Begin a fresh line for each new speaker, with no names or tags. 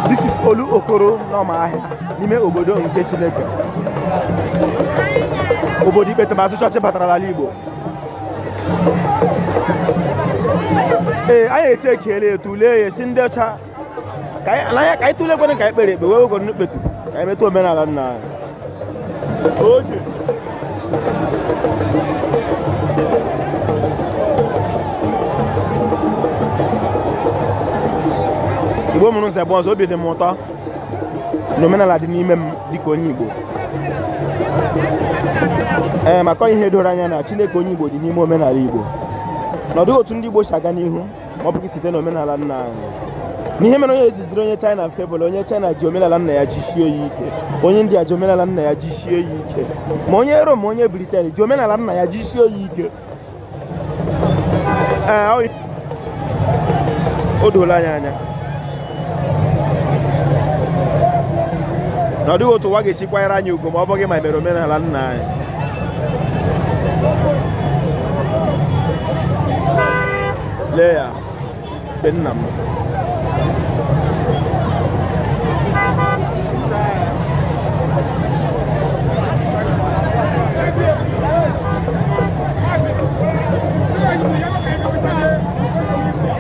This is Olu Okoro n'ọma ahịa n'ime obodo nke Chineke obodo ikpetemazụ chọọchị batara n'ala Igbo ee anyị echekiela ya tụlee ya sị ndị ọcha ka anyị n'anya ka anyị tụlee kwere ka anyị kpere ekpere wegoro n'ikpetu ka anyị metụ omenala nna anyị oge igbo mụrụ nsọ bụ ọzọ obi dị m ụtọ na omenala dị n'ime m dịka onye igbo ee maka ihe doro anya na chineke onye igbo dị n'ime omenala igbo na ọ dịghị otu ndị igbo si aga n'ihu ọ bụghị site na omenala nna anyị n'ihe mere onye ji dịrị onye China mfe bụ na onye China ji omenala nna ya jisie ya ike onye India ji omenala nna ya jisie ya ike ma onye Rom ma onye Briten ji omenala nna ya jisie ya ike ee o doola anyị anya na ọ dịghị otu ụwa ga-esi kwanyere anyị ugwu ma ọ bụghị ma e mere omenala nna anyị lee ya be nna m